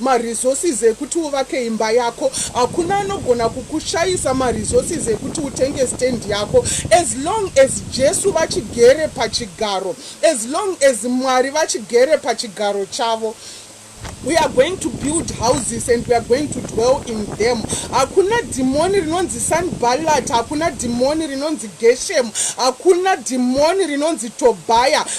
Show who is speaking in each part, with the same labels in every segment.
Speaker 1: Maresources ekuti uvake imba yako hakuna anogona kukushayisa maresources ekuti utenge stand yako as long as Jesu vachigere pachigaro as long as Mwari vachigere pachigaro chavo we are going to build houses and we are going to dwell in them hakuna dhimoni rinonzi sanballat hakuna dhimoni rinonzi geshemu hakuna dhimoni rinonzi tobhaya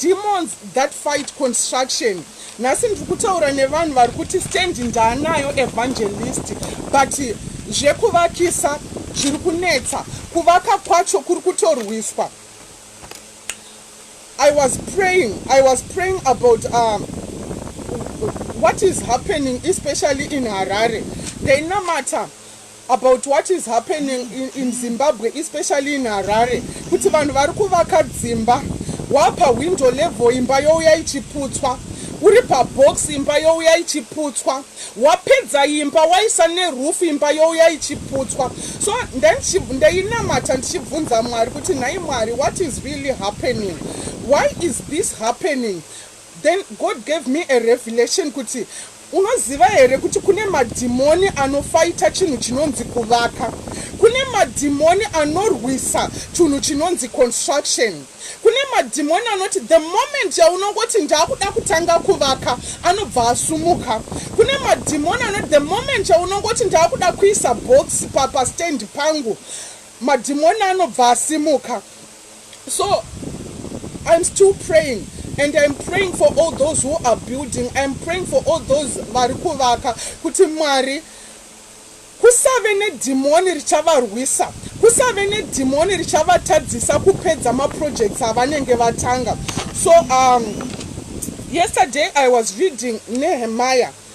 Speaker 1: Demons that fight construction nhasi ndiri kutaura nevanhu vari kuti stand ndaanayo evangelist but zvekuvakisa zviri kunetsa kuvaka kwacho kuri kutorwiswa i was praying i was praying about um, what is happening especially in harare ndainamata about what is happening in, in Zimbabwe especially in Harare kuti vanhu vari kuvaka dzimba wapa window level imba youya ichiputswa uri pabox imba youya ichiputswa wapedza imba waisa nerufu imba youya ichiputswa so ndainamata ndichibvunza mwari kuti nhai mwari what is really happening why is this happening Then God gave me a revelation kuti unoziva here kuti kune madhimoni anofaita chinhu chinonzi kuvaka kune madhimoni anorwisa chunhu chinonzi construction kune madhimoni anoti the moment yaunongoti ndaakuda kutanga kuvaka anobva asumuka kune madhimoni anoti the moment yaunongoti ndaakuda kuisa box pastand pangu madhimoni anobva asimuka So I'm still praying and I'm praying for all those who are building. I'm praying for all those vari kuvaka kuti Mwari kusave nedhimoni richavarwisa kusave nedhimoni richavatadzisa kupedza maprojects avanenge vatanga so um, yesterday i was reading nehemiah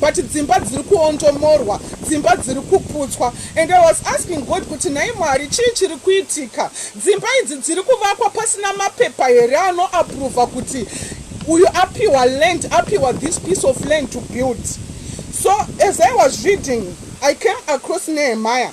Speaker 1: but dzimba dziri kuondomorwa dzimba dziri kuputswa and i was asking god kuti nhai mwari chii chiri kuitika dzimba idzi dziri kuvakwa pasina mapepa here anoapruvha kuti uyu apiwa land apiwa this piece of land to build so as i was reading i came across nehemaya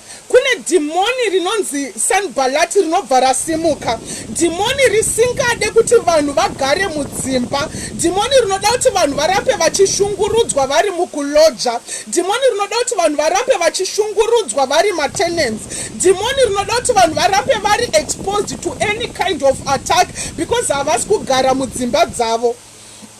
Speaker 1: Kune dhimoni rinonzi Sanbhalati rinobva rasimuka. Dhimoni risingade kuti vanhu vagare mudzimba. Dhimoni rinoda kuti vanhu varambe vachishungurudzwa vari mukuloja. Dhimoni rinoda kuti vanhu varambe vachishungurudzwa vari matenants. Dhimoni rinoda kuti vanhu varambe vari exposed to any kind of attack because havasi kugara mudzimba dzavo.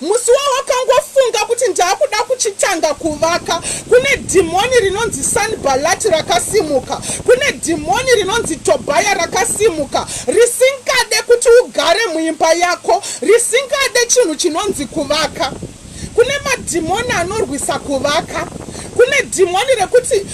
Speaker 1: Musi wawakangofunga kuti ndaakuda kuchitanga kuvaka, kune dhimoni rinonzi Sanbalati rakasimuka, kune dhimoni rinonzi Tobhaya rakasimuka, risingade kuti ugare muimba yako, risingade chinhu chinonzi kuvaka. Kune madhimoni anorwisa kuvaka, kune dhimoni rekuti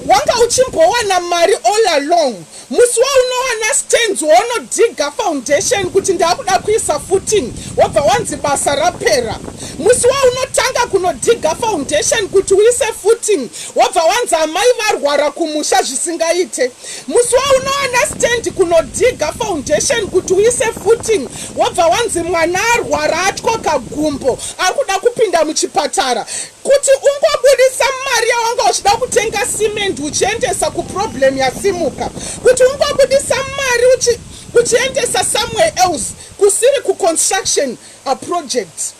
Speaker 1: wanga uchimbowana mari all along Musi waunowana stands waunodhiga foundation kuti ndakuda kuisa footing wobva wanzi basa rapera. Musi waunotanga kunodhiga foundation kuti uise footing wobva wanzi amai varwara kumusha zvisingaite. Musi waunowana stand kunodhiga foundation kuti uise footing wobva wanzi mwana arwara atyoka gumbo akuda kupinda muchipatara. Kuti ungobudisa mari yawanga uchida kutenga cement uchiendesa kuproblem yasimuka. Kuti ungobudisa mari uchi, uchiendesa somewhere else kusiri kuconstruction a project.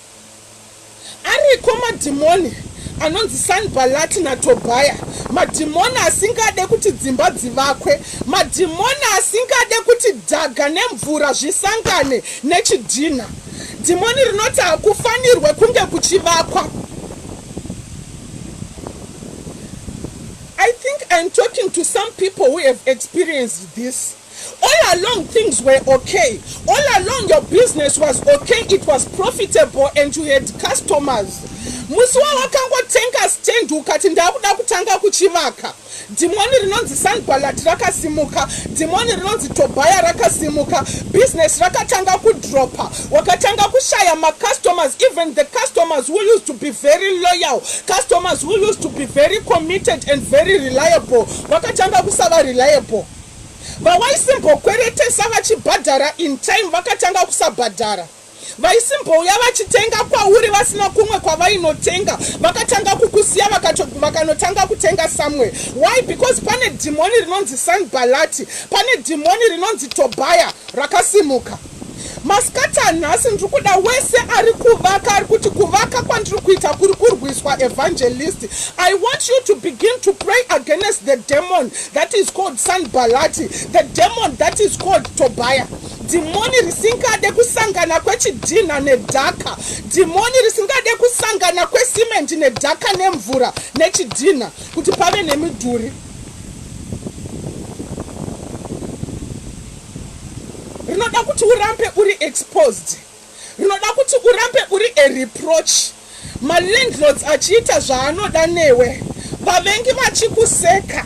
Speaker 1: Ariko madhimoni anonzi sanbalati natobhaya madhimoni asingade kuti dzimba dzivakwe madhimoni asingade kuti dhaga nemvura zvisangane nechidhinha. Dhimoni rinoti hakufanirwe kunge kuchivakwa. I think I'm talking to some people who have experienced this. All along things were okay. All along your business was okay. It was profitable and you had customers. Musi wawakangotenga stand ukati ndakuda kutanga kuchivaka. Dhimoni rinonzi Sanbalati rakasimuka, dhimoni rinonzi Tobhaya rakasimuka, business rakatanga kudropa, wakatanga kushaya macustomers, even the customers who used to be very loyal, customers who used to be very committed and very reliable, vakatanga kusava reliable. Vawaisimbokwere tesa vachibhadhara in time vakatanga kusabhadhara. vaisimbouya vachitenga kwauri vasina kumwe kwavainotenga vakatanga kukusiya vakanotanga kutenga samwe why because pane dhimoni rinonzi sanbalati pane dhimoni rinonzi tobhaya rakasimuka masikati anhasi ndiri kuda wese ari kuvaka ari kuti kuvaka kwandiri kuita kuri kurwiswa evangelist i want you to begin to pray against the demon that is called sanbalati the demon that is called tobhaya Dhimoni risingade kusangana kwechidhinha nedhaka. Dhimoni risingade kusangana kwesimendi nedhaka nemvura nechidhinha kuti pave nemidhuri. Rinoda kuti urambe uri exposed. Rinoda kuti urambe uri a reproach. Malandlords achiita zvaanoda newe. Vavengi vachikuseka.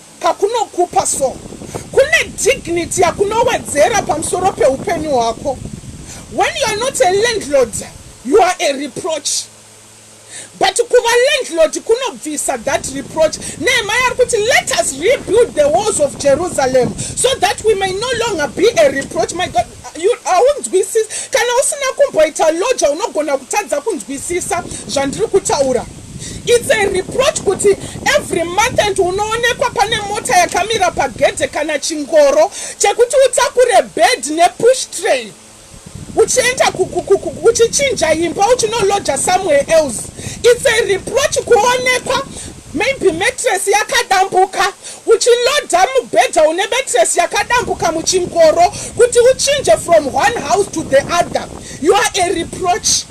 Speaker 1: kakunokupa so kune dignity yakunowedzera pamusoro peupenyu hwako when you are not a landlord you are a reproach but kuva landlord kunobvisa that reproach nehema yari kuti let us rebuild the walls of jerusalem so that we may no longer be a reproach my god haunzwisisi kana usina kumboita loja unogona kutadza kunzwisisa zvandiri kutaura its a reproach kuti every month and unoonekwa pane mota yakamira pagedhe kana chingoro chekuti utakure bed nepush train uchienda uchichinja imba uchinoloja somewhere else its a reproach kuonekwa Maybe mattress yakadambuka. Uchiloader mubhedha une mattress yakadambuka muchingoro kuti uchinje from one house to the other. You are a reproach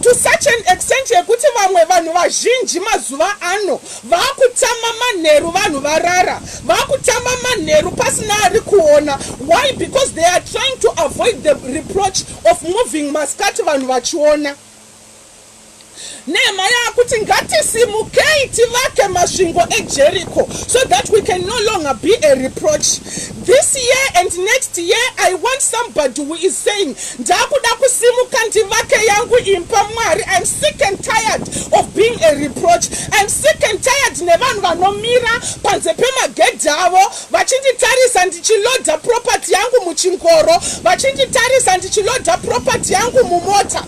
Speaker 1: to such an extent yekuti vamwe vanhu vazhinji mazuva ano vakutama manheru vanhu varara vakutama manheru pasina ari kuona why because they are trying to avoid the reproach of moving maskati vanhu vachiona Nehemiah akuti ngatisimukei tivake masvingo eJericho so that we can no longer be a reproach. This year and next year I want somebody who is saying ndakuda kusimuka ndivake yangu imba Mwari. I'm sick and tired of being a reproach. I'm sick and tired nevanhu vanomira panze pemagedhi avo vachinditarisa ndichiloda property yangu muchingoro, vachinditarisa ndichiloda property yangu mumota.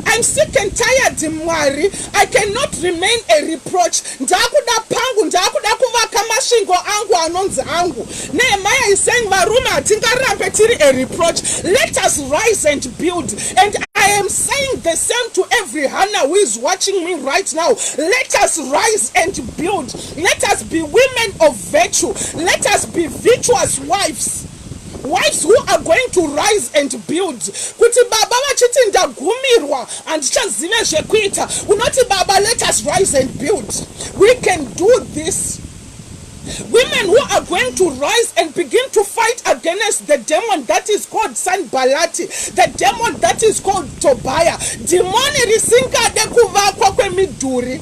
Speaker 1: I'm sick and tired Mwari I cannot remain a reproach ndakuda pangu ndakuda kuvaka masvingo angu anonzi angu Nehemiah is saying varume hatingarambe tiri a reproach let us rise and build and I am saying the same to every Hannah who is watching me right now. Let us rise and build. Let us be women of virtue. Let us be virtuous wives. Wives who are going to rise and build kuti baba vachiti ndagumirwa handichazive zvekuita unoti baba let us rise and build we can do this women who are going to rise and begin to fight against the demon that is called sanbalati the demon that is called tobaya dhimoni risingade kuvakwa kwemidhuri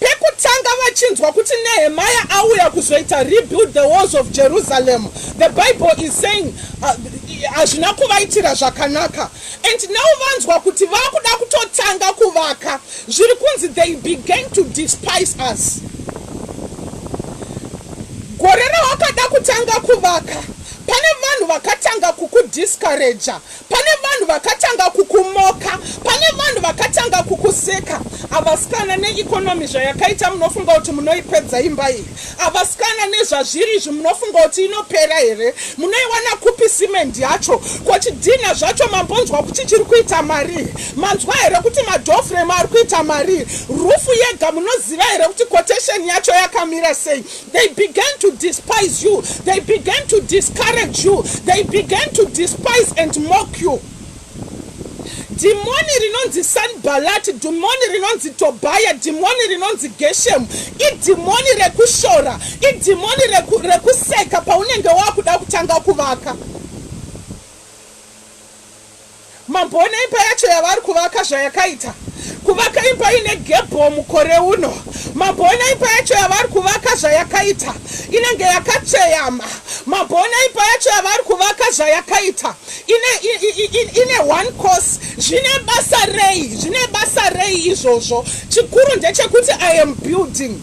Speaker 1: Pekutanga vachinzwa kuti Nehemiah auya kuzoita rebuild the walls of Jerusalem, the Bible is saying uh, hazvina uh, kuvaitira zvakanaka and now vanzwa kuti vakuda kutotanga kuvaka zviri kunzi they began to despise us. Gore rawakada kutanga kuvaka pane vanhu vakatanga kukudiscourager Pane vanhu vakatanga kukumoka, pane vanhu vakatanga kukuseka. Avasikana neeconomy zvayakaita munofunga kuti munoipedza imba iyi? Avasikana nezvazviri izvi munofunga kuti inopera here? Munoiwana kupi cement yacho? Ko chidhinha zvacho mambonzwa kuti chiri kuita marii? Manzwa here kuti madoor frame ari kuita marii? Rufu yega munoziva here kuti quotation yacho yakamira sei? They began to despise you. They began to discourage you. They began to despise and mock you. Dhimoni rinonzi Sanbalati, dhimoni rinonzi Tobhaya, dhimoni rinonzi Geshemu, idhimoni rekushora, idhimoni reku, rekuseka paunenge wakuda kutanga kuvaka. Mambo one imba yacho yavari kuvaka zvayakaita kuvaka imba ine gebho mukore uno. Mambo one imba yacho yavari kuvaka zvayakaita inenge yakatsveyama. Mambo one imba yacho yavari kuvaka zvayakaita ine, ine, ine one course. Zvine basa rei? Zvine basa rei izvozvo? Chikuru ndechekuti I am building.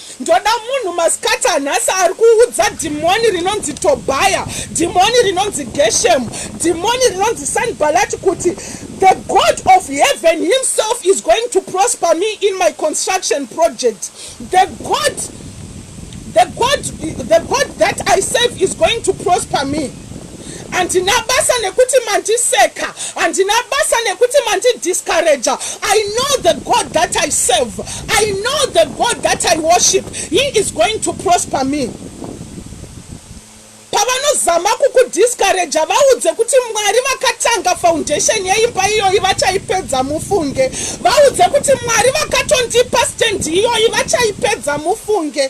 Speaker 1: ndoda munhu masikati anhasi ari kuudza dhimoni rinonzi tobhaya dhimoni rinonzi geshemu dhimoni rinonzi sanbalati kuti the god of heaven himself is going to prosper me in my construction project the god the god the god that i serve is going to prosper me handina basa nekuti mandiseka handina basa nekuti mandidiscourager i know the god that i serve i know the god that i worship he is going to prosper me pavanozama kukudiscourager vaudze kuti mwari vakatanga foundation yeimba iyoyi vachaipedza mufunge vaudze kuti mwari vakatondipa stand iyoyi vachaipedza mufunge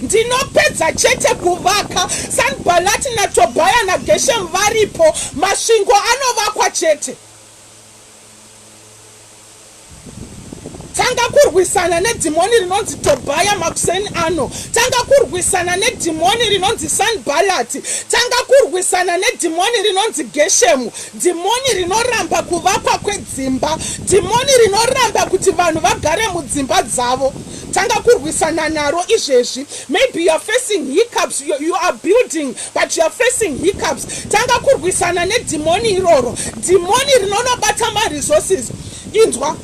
Speaker 1: Ndinopedza chete kuvaka Sanbalati naTobhaya naGeshemu varipo, masvingo anovakwa chete. Tanga kurwisana nedhimoni rinonzi Tobhaya makuseni ano. Tanga kurwisana nedhimoni rinonzi Sanbalati. Tanga kurwisana nedhimoni rinonzi Geshemu. Dhimoni rinoramba kuvakwa kwedzimba. Dhimoni rinoramba kuti vanhu vagare mudzimba dzavo. Tanga kurwisana naro izvezvi. Maybe you are facing hiccups, you, you are building but you are facing hiccups. Tanga kurwisana nedhimoni iroro. Dhimoni rinonobata maresources. Inzwa,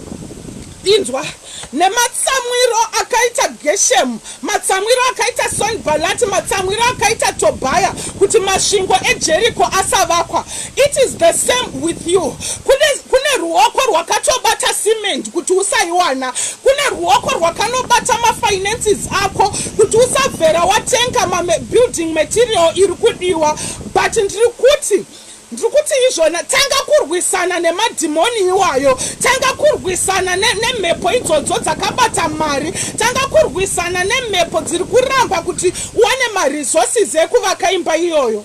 Speaker 1: inzwa nematsamwiro akaita geshemu matsamwiro akaita sonbalati matsamwiro akaita tobhaya kuti masvingo ejeriko asavakwa It is the same with you. Kune, kune ruoko rwakatobata cement kuti usaiwana. Kune ruoko rwakanobata mafinances ako kuti usabvera watenga mabuilding material iri kudiwa. But ndiri kuti ndiri kuti izvona tanga kurwisana nemadhimoni iwayo tanga kurwisana nemhepo idzodzo dzakabata mari tanga kurwisana nemhepo dziri kuramba kuti uwane maresources ekuvaka imba iyoyo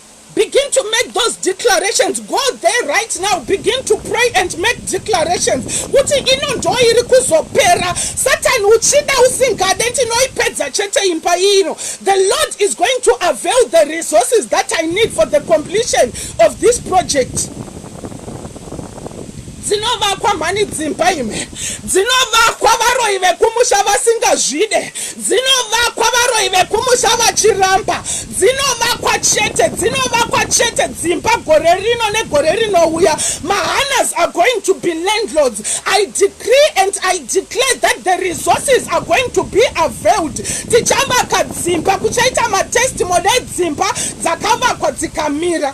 Speaker 1: Begin to make those declarations go there right now begin to pray and make declarations kuti ino ndo iri kuzopera satani uchida usingade ndinoipedza chete imba ino the lord is going to avail the resources that i need for the completion of this project dzinovakwa mhani dzimba ime dzinovakwa varoyi vekumusha vasingazvide dzinovakwa varoyi vekumusha vachiramba Dzinovakwa chete, dzinovakwa chete dzimba gore rino negore rinouya. Mahanas are going to be landlords. I decree and I declare that the resources are going to be availed. Tichavaka dzimba, kuchaita matestimony edzimba dzakavakwa dzikamira.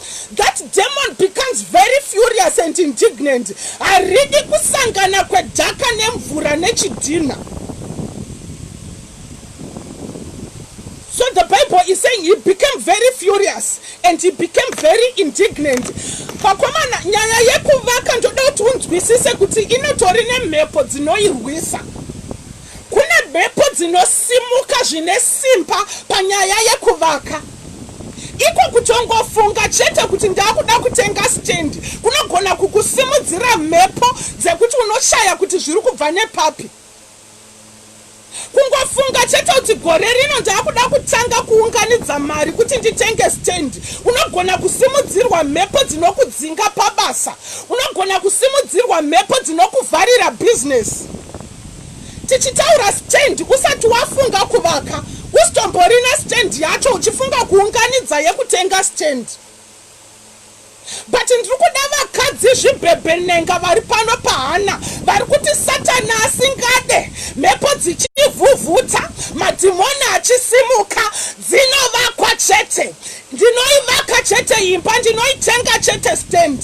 Speaker 1: That demon becomes very furious and indignant. Haridi kusangana kwedhaka nemvura nechidhinha. So the Bible is saying he became very furious and he became very indignant. Pakomana nyaya yekuvaka ndoda kuti unzwisise kuti inotori nemhepo dzinoirwisa. Kune mhepo dzinosimuka zvine simba panyaya yekuvaka. Iko kutongofunga chete kuti ndakuda kutenga stand kunogona kukusimudzira mhepo dzekuti unoshaya kuti zviri kubva nepapi. Kungofunga chete kuti gore rino ndakuda kutanga kuunganidza mari kuti nditenge stand, unogona kusimudzirwa mhepo dzinokudzinga pabasa. Unogona kusimudzirwa mhepo dzinokuvharira bhizinesi. Tichitaura stand usati wafunga kuvaka usitomborina stand yacho uchifunga kuunganidza yekutenga stand but ndiri kuda vakadzi zvibhebhenenga vari pano pahana vari kuti satani asingade mhepo dzichivhuvhuta madhimoni achisimuka dzinovakwa chete Ndinoivaka chete imba ndinoitenga chete stand.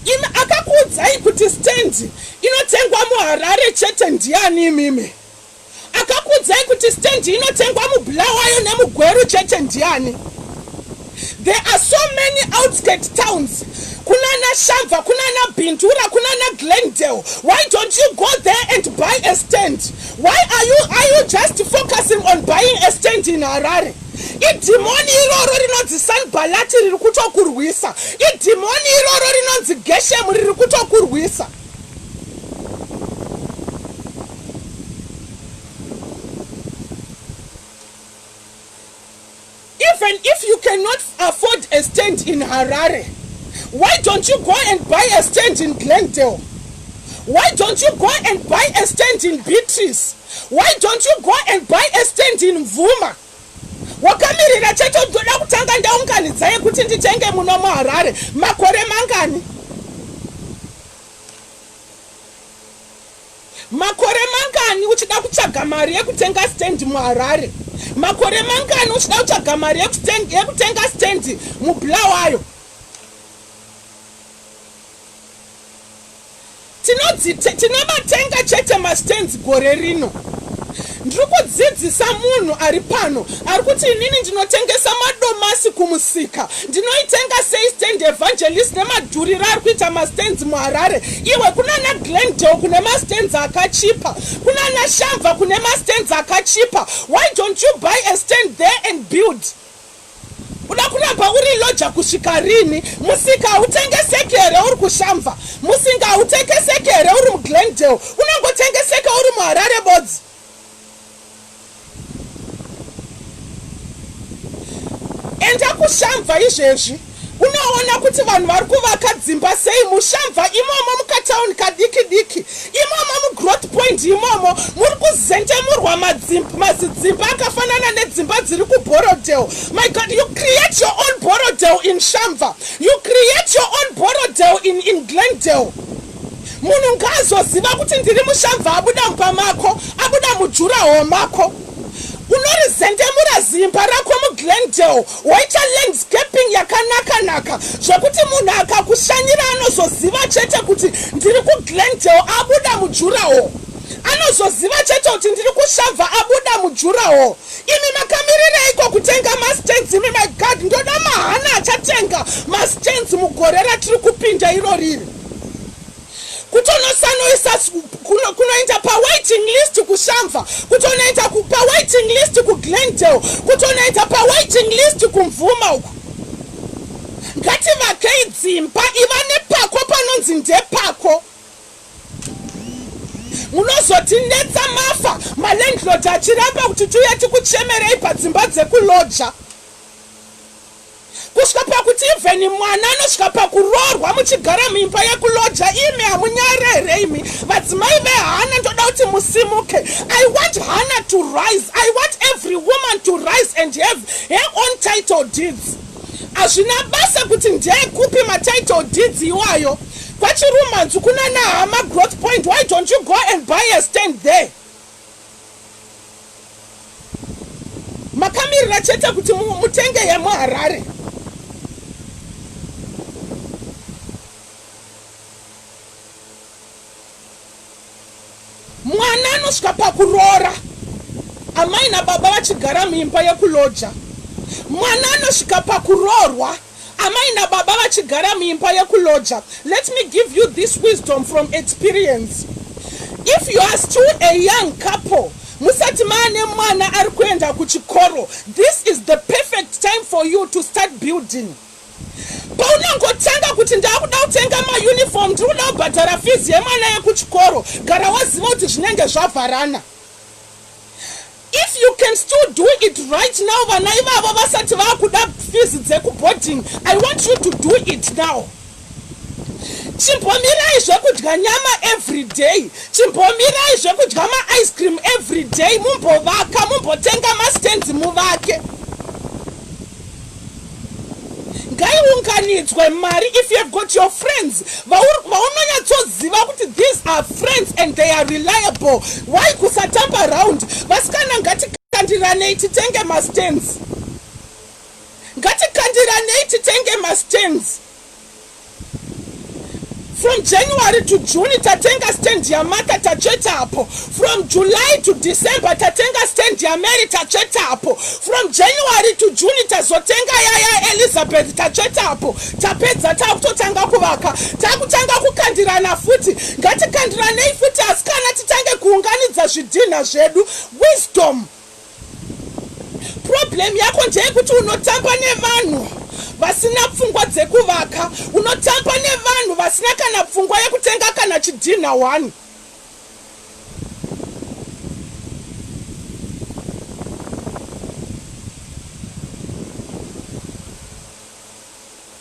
Speaker 1: Imi akakuudzai kuti stand inotengwa muHarare chete ndiani imimi? Akakuudzai kuti stand inotengwa muBulawayo nemuGweru chete ndiani? There are so many outskirt towns kunana Shamva, kunana Bindura, kunana Glendale. Why don't you go there and buy a stand? Why are you, are you just focusing on buying a stand in Harare? idhimoni iroro rinonzi sanbalati riri kutokurwisa idhimoni iroro rinonzi geshemu riri kutokurwisa Even if you cannot afford a stand in Harare, why don't you go and buy a stand in Glendale? Why don't you go and buy a stand in Beatrice? Why don't you go and buy a stand in Mvuma? wakamirira chete ndoda kutanga ndaunganidza yekuti nditenge muno muharare makore mangani Makore mangani uchida kutsvaga mari yekutenga stand muHarare? Makore mangani uchida kutsvaga mari yekutenga stand muBulawayo? Tinobatenga chete mastands gore rino. Ndiri kudzidzisa munhu ari pano ari kuti inini ndinotengesa madomasi kumusika. Ndinoitenga sei stand evangelist nemadhuriro ari kuita mastands muHarare? Iwe kunana Glendale kune mastands akachipa. Kunana Shamva kune mastands akachipa. Why don't you buy a stand there and build? Uda kuramba uri loja kusvika rini? Musika hautengeseki here uri kuShamva? Musinga hautekeseki here uri muGlendale? Unongotengeseka uri muHarare bodzi. Enda kuShamva izvezvi. Unoona kuti vanhu vari kuvaka dzimba sei mushamva imomo mukatauni kadiki diki imomo mugrowth point imomo muri kuzentemurwa mazidzimba akafanana nedzimba dziri kuborodel my god you create your own borodel in shamva you create your own borodel in, in glendale munhu ngaazoziva kuti ndiri mushamva abuda mumba mako abuda mujuraho mako unorizendemura zimba rako muglendale woita landscaping yakanakanaka zvekuti munhu akakushanyira anozoziva chete kuti ndiri kuglendale abuda mujuraho anozoziva chete kuti ndiri kushavha abuda mujuraho imi makamirireiko kutenga mastens imi magad ndoda mahana achatenga mastens mugore ratiri kupinda iro riri kutonosanoisa kunoita kuno pawaiting list kushamva kutonoita pawaiting list kuglendale kutonoita pawaiting list kumvuma uku ngativakei dzimba iva nepako panonzi ndepako munozotinetsa mafa malandlord achiramba kuti tiuye tikuchemerei padzimba dzekuloja kusvika pakuti even mwana anosvika pakuroorwa muchigara muimba yekuloja imi hamunyare here imi vadzimai vehana ndoda kuti musimuke i want hana to rise i want every woman to rise and have her own title deeds hazvina basa kuti ndeyekupi matitle deeds iwayo kwachirumanzu kunana hama growth point why don't you go and buy a stand there makamirira chete kuti mutenge yemuharare mwana anosvika pakuroora amai nababa vachigara muimba yekuloja mwana anosvika pakuroorwa Amai nababa vachigara muimba yekuloja let me give you this wisdom from experience if you are still a young couple musati maane mwana ari kuenda kuchikoro this is the perfect time for you to start building paunongotanga kuti ndakuda kutenga mauniform ndiri kuda kubhadhara fizi yemwana yekuchikoro gara waziva kuti zvinenge zvavharana if you can still do it right now vana ivavo vasati vakuda fees dzekuboarding i want you to do it now chimbomirai zvekudya nyama every day chimbomirai zvekudya maice cream every day mumbovaka mumbotenga mastands muvake ngaiunganidzwe mari if you have got your friends vaunonyatsoziva kuti these are friends and they are reliable why kusatamba round vasikana ngatikandiranei titenge mastans ngatikandiranei titenge mastans From January to June tatenga stand yaMaka tatsvetapo. From July to December tatenga stand yaMary tatsvetapo. From January to June tazotenga yaya Elizabeth tatsvetapo. Tapedza takutotanga kuvaka. Takutanga kukandirana futi. Ngatikandiranei futi asikana titange kuunganidza zvidhinha zvedu. Wisdom. problem yako ndeyekuti unotamba nevanhu vasina pfungwa dzekuvaka unotamba nevanhu vasina kana pfungwa yekutenga kana chidhinha one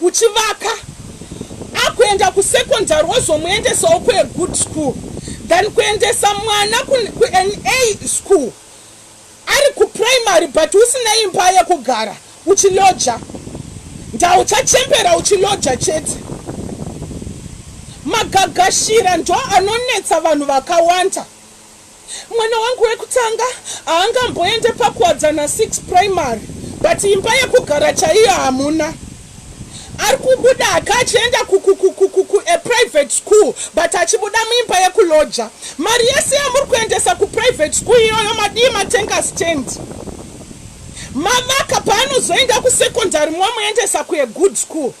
Speaker 1: uchivaka akuenda kusecondary wozomuendesawo kuagood school than kuendesa mwana kuan a school ari kuprimary but usina imba yekugara uchiloja ndauchachembera uchiloja chete magagashira ndo anonetsa vanhu vakawanda Mwana wangu wekutanga haangamboende pakuwadzana six primary but imba yekugara chaiyo hamuna. Ari kubuda aka achienda kukukukuku a private school but achibuda muimba yekuloja. Mari yese yamuri kuendesa kuprivate school iyoyo madii matenga stand. Mavaka paanozoenda kusecondary mwamuendesa kuagood school.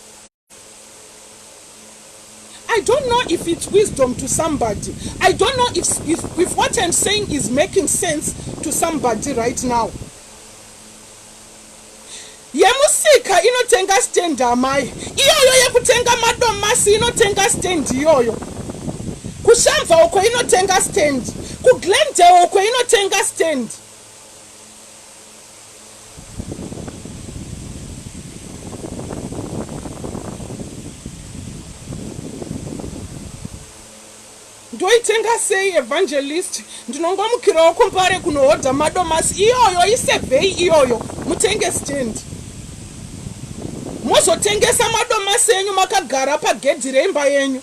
Speaker 1: I don't know if it's wisdom to somebody. I don't know if, if, if what I'm saying is making sense to somebody right now. yemusika inotenga stand amai iyoyo yekutenga madomasi inotenga stand iyoyo kushamva uko inotenga stand kuglendale uko inotenga stand ndoitenga sei evangelist ndinongomukirawo kumbare kunohodha madomasi iyoyo isevhei iyoyo mutenge stendi mozotengesa madomasi enyu makagara pagedhi reimba yenyu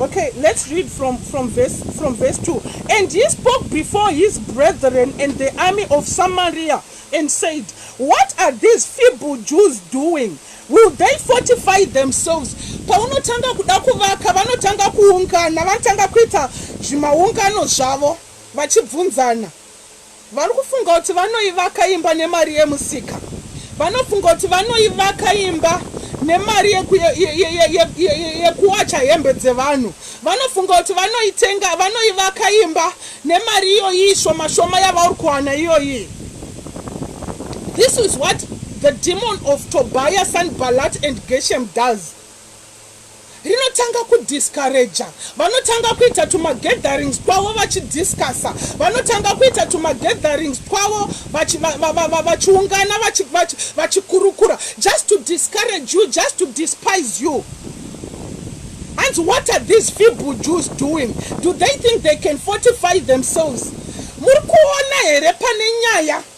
Speaker 1: Okay, let's read from, from, verse, from verse 2. And he spoke before his brethren and the army of Samaria and said, What are these feeble Jews doing? Will they fortify themselves? Paunotanga kuda kuvaka vanotanga kuungana, vanotanga kuita zvimaungano zvavo vachibvunzana. Vari kufunga kuti vanoivaka imba nemari yemusika. Vanofunga kuti vanoivaka imba nemari yekuwacha hembe dzevanhu. Vanofunga kuti vanoitenga, vanoivaka imba nemari iyoyi shoma shoma yavauri kuwana iyoyi. This is what the demon of Tobias and Balat and Geshem does. rinotanga kudiscourager, vanotanga kuita tumagatherings twavo vachidiscussa, vanotanga kuita tumagatherings twavo vachiungana vachikurukura just to discourage you, just to despise you. And what are these feeble Jews doing? Do they think they can fortify themselves? Muri kuona here pane nyaya?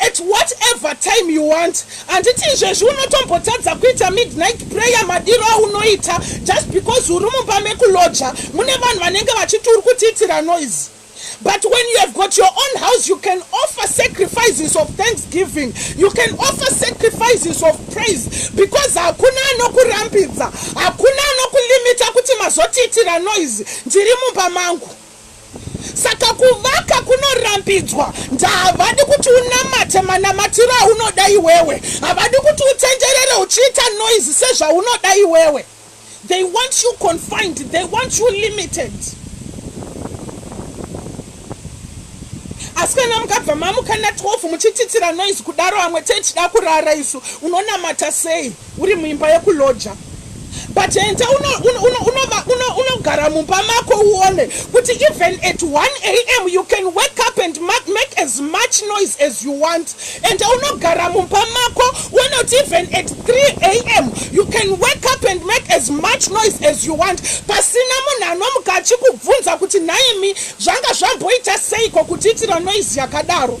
Speaker 1: At what ever time you want handiti izvezvi unotombotadza kuita midnight prayer madiro aunoita just because uri mumba mekuloja mune vanhu vanenge vachiti uri kutiitira noise but when you have got your own house you can offer sacrifices of thanksgiving you can offer sacrifices of praise because hakuna anokurambidza hakuna anokulimita kuti mazotiitira noise ndiri mumba mangu Saka kuvaka kunorambidzwa. Ndavadi kuti unamate manamatiro aunoda iwewe. Havadi kuti utenderere uchiita noise sezvaunoda iwewe. They want you confined. They want you limited. asi kana mukabva mamuka na 12 muchititira noise kudaro amwe tee tida kurara isu unonamata sei Uri muimba yekuloja but enta unogara mumba mako uone kuti even at 1 am you can wake up and make as much noise as you want enta unogara mumba mako uone kuti even at 3 am you can wake up and make as much noise as you want pasina munhu anomuka achikubvunza kuti nhaimi zvanga zvamboita seiko kutiitira noise yakadaro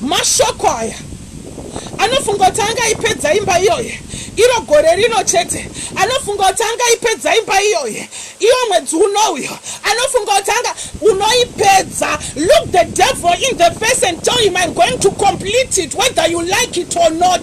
Speaker 1: Mashoko aya anofunga kuti angaipedza imba iyoye iro gore rino chete, anofunga kuti angaipedza imba iyoye iwo mwedzi unouyo, anofunga kuti anga unoipedza. Look the devil in the face and tell him I'm going to complete it whether you like it or not.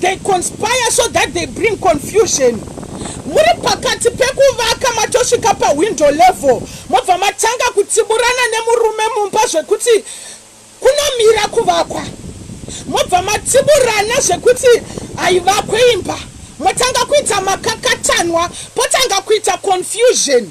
Speaker 1: They conspire so that they bring confusion. Muri pakati pekuvaka matosvika pawindow level mobva matanga kutsiburana nemurume mumba zvekuti kunomira kuvakwa. Mobva matsiburana zvekuti haivakwe imba. Motanga kuita makakatanwa potanga kuita confusion.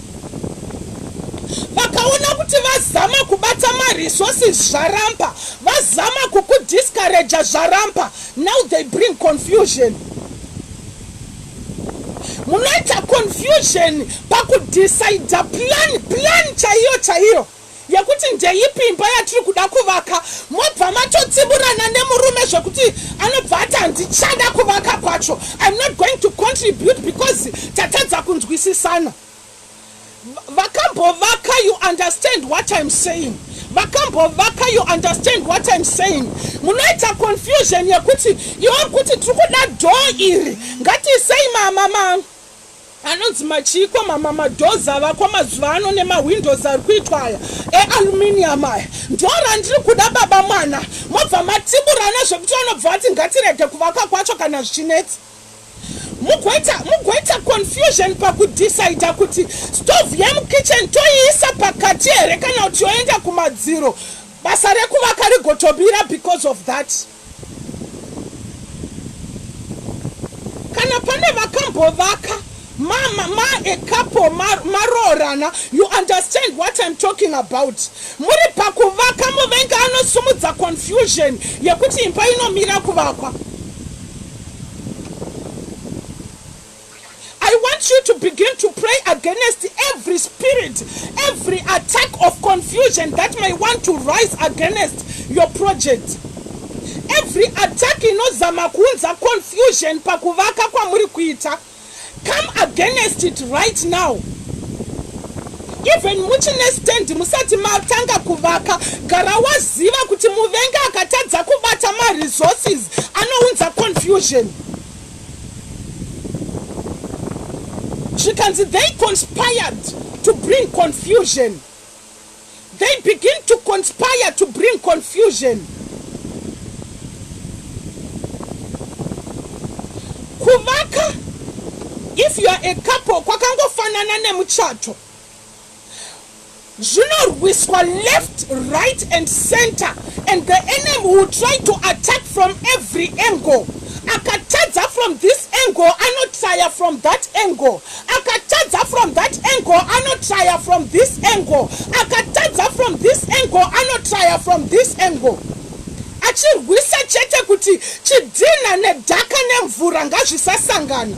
Speaker 1: vakaona kuti vazama kubata maresources zvarampa vazama kukudiscouraja zvarampa now they bring confusion munoita confusion pakudecida plan plan chaiyo chaiyo yekuti ndeipi imba yatiri kuda kuvaka mobva matotsiburana nemurume zvekuti anobva ati handichada kuvaka kwacho im not going to contribute because tatadza kunzwisisana vakambovaka you understand what im saying vakambovaka you understand what im saying munoita confusion yekuti iwo kuti tiri kuda dhoo iri ngatiisei mama mangu Anonzi machiko mama madoors avakwa mazuva ano nema windows ari kuitwa aya e aluminium aya ndoo randiri kuda baba mwana mobva matiburana zvekuti vanobva vati ngatirege kuvaka kwacho kana zvichinetsa mugoita mugoita confusion pakudecida kuti stove yemukitchen toiisa pakati here kana kuti yoenda kumadziro basa rekuvaka rigotobira because of that kana pane vakambovaka ma, ma, ma a couple maroorana ma you understand what i'm talking about muri pakuvaka muvengi anosumudza confusion yekuti imba inomira kuvakwa I want you to begin to pray against every spirit, every attack of confusion that may want to rise against your project. Every attack inozama kuunza confusion pakuvaka kwamuri kuita. Come against it right now. even muchine stand musati matanga kuvaka gara waziva kuti muvengi akatadza kubata maresources anounza confusion zvikanzi they conspired to bring confusion they begin to conspire to bring confusion kuvaka if youare a couple kwakangofanana nemuchato zvinorwiswa left right and center and the enemy will try to attack from every angle akatadza from this angle anotraya from that angle akatadza from that angle anotraya from this angle akatadza from this angle anotraya from this angle achirwisa chete kuti chidhinha nedhaka nemvura ngazvisasangana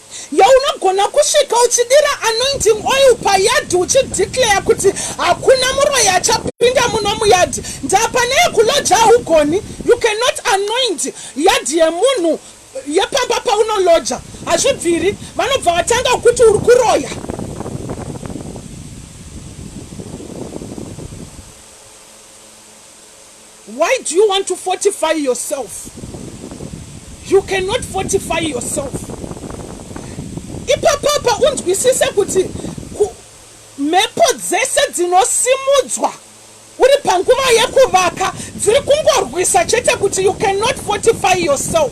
Speaker 1: Yoo unogona kusvika uchidira anointing oil payard uchi declare kuti hakuna muroyi achapinda muno muyard ndaa pane yekuloja haugoni you cannot anoint yard yemunhu yepamba paunoloja hazvibviri vanobva vatanga ukuti uri kuroya Why do you want to fortify yourself? You cannot fortify yourself. Ipapapa unzwisise kuti mhepo dzese dzinosimudzwa uri panguva yekuvaka dziri kungorwisa chete kuti you cannot fortify yourself.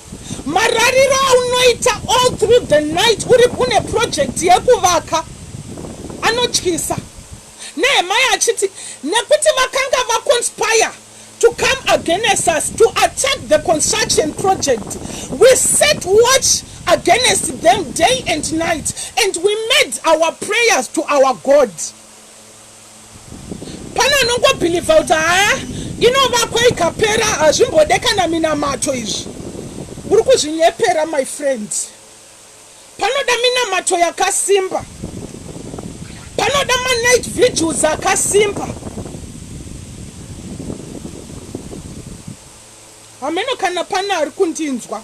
Speaker 1: Marariro aunoita all through the night uri une project yekuvaka anotyisa. Nehemiah achiti nekuti vakanga vaconspire to come against us to attack the construction project we set watch against them day and night and we made our prayers to our God. Pane anongobhilivha kuti haa inovakwa ikapera hazvimbode kana minamato izvi. Uri kuzvinyepera my friend. Panoda minamato yakasimba. Panoda manight vigils akasimba. Hameno kana pane ari kundinzwa.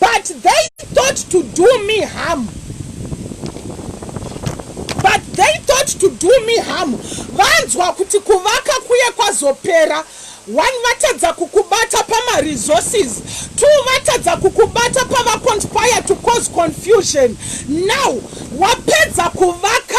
Speaker 1: but they thought to do me harm but they thought to do me harm vanzwa kuti kuvaka kuye kwazopera one vatadza kukubata pamaresources two vatadza kukubata pavaconspire to cause confusion now wapedza kuvaka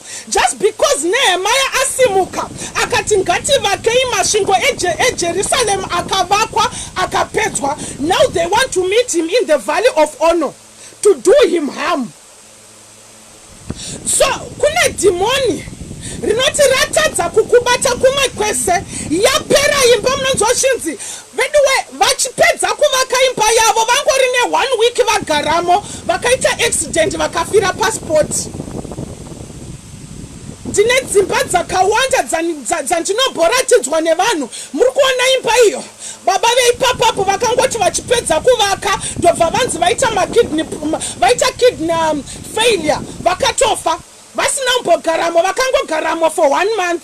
Speaker 1: Just because Nehemiah asimuka akati ngativakei masvingo eje, eJerusalem akavakwa akapedzwa now they want to meet him in the valley of honor to do him harm so kune dhimoni rinoti ratadza kukubata kumwe kwese yapera imba munonzwa zvinzi Veduwe vachipedza kuvaka imba yavo vangori ne one week vagaramo vakaita accident vakafira pa spot. Ndine dzimba dzakawanda dzandinomboratidzwa nevanhu muri kuona imba iyo baba veipapa apo vakangoti vachipedza kuvaka ndobva vanzi vaita ma kidney vaita kidney um, failure vakatofa vasina kumbogaramo vakangogaramo for one month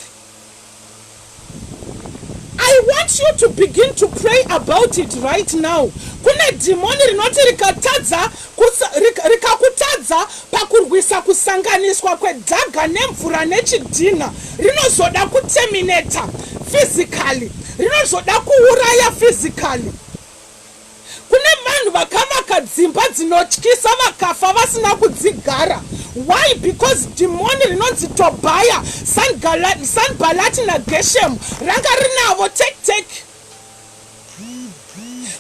Speaker 1: I want you to begin to pray about it right now. Kune dhimoni rinoti rikatadza rikakutadza pakurwisa kusanganiswa kwedhaga nemvura nechidhinha rinozoda kuterminata physically, rinozoda kuuraya physically. Kune vanhu vakavaka dzimba dzinotyisa vakafa vasina kudzigara. Why? Because dhimoni rinonzi Tobhaya, Sangala, Sanbalati naGeshemu ranga rinavo tek tek.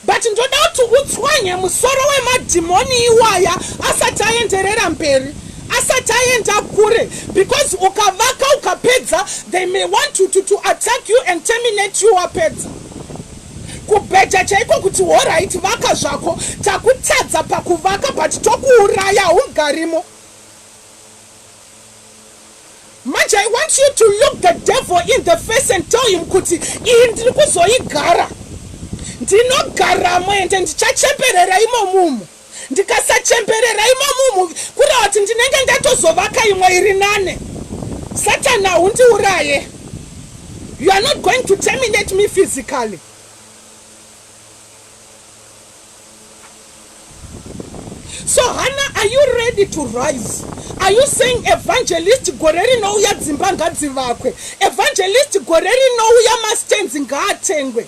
Speaker 1: But ndoda kuti utswanye musoro wemadhimoni iwaya asati aenderera mberi, asati aenda kure, because ukavaka ukapedza they may want to, to, to attack you and terminate you wapedza. kubheja chaiko kuti horaiti vaka zvako takutadza pakuvaka but tokuuraya haungarimo manje i want you to look the devil in the face and tell him kuti iyi ndiri kuzoigara ndinogaramo ende ndichacheperera imomumu Ndikasachemberera imo mumhu kureva kuti ndinenge ndatozovaka imwe iri nane. Satan haundiuraye. You are not going to terminate me physically. So Hannah, are you ready to rise? Are you saying evangelist gore rinouya dzimba ngadzivakwe? Evangelist gore rinouya mastands ngaatengwe?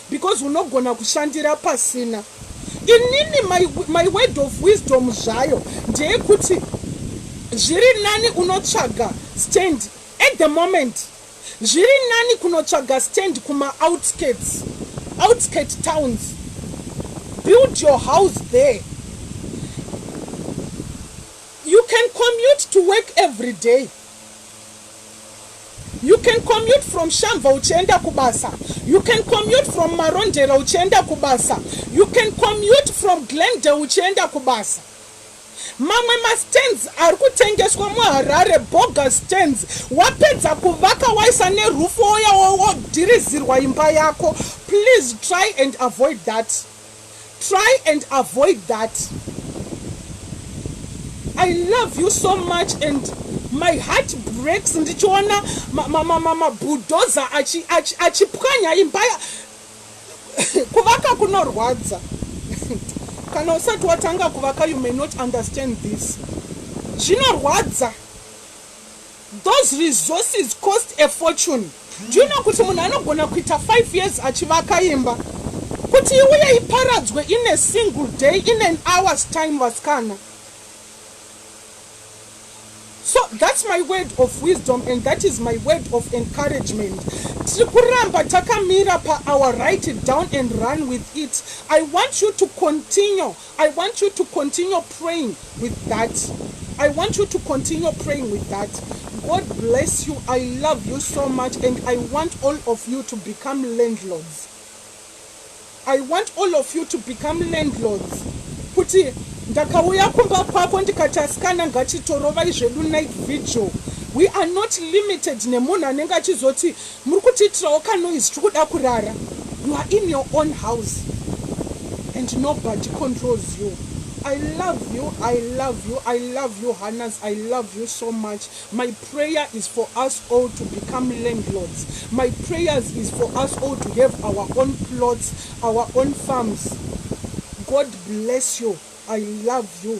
Speaker 1: Because unogona kushandira pasina. Inini my, my word of wisdom zvayo ndeyekuti zviri nani unotsvaga stand at the moment. Zviri nani kunotsvaga stand kuma outskirts, outskirt towns. Build your house there. You can commute to work every day. You can commute from Shamva uchienda kubasa. You can commute from Marondera uchienda kubasa. You can commute from Glendale uchienda kubasa. Mamwe ma stands ari kutengeswa muHarare bogus stands. Wapedza kuvaka waisa neroof oya wodhirizirwa imba yako. Please try and avoid that. Try and avoid that I love you so much and my heart breaks ndichiona mabhudhoza achipwanya imba kuvaka kunorwadza kana usati watanga kuvaka you may not understand this zvinorwadza Those resources cost a fortune. Do you know kuti munhu anogona kuita five years achivaka imba kuti iuye iparadzwe in a single day in an hour's time vasikana? so that's my word of wisdom and that is my word of encouragement tiri kuramba takamira pa our write it down and run with it i want you to continue I want you to continue praying with that. I want you to continue praying with that. God bless you. I love you so much and I want all of you to become landlords. I want all of you to become landlords. Kuti ndakauya kumba kwako ndikati asikana ngatitorovai zvedu night vigil we are not limited nemunhu anenge achizoti Muri kutiitirawo ka noise tiri kuda kurara you are in your own house and nobody controls you I love you I love you I love you Hannahs I love you so much my prayer is for us all to become landlords my prayers is for us all to have our own plots our own farms God bless you I love you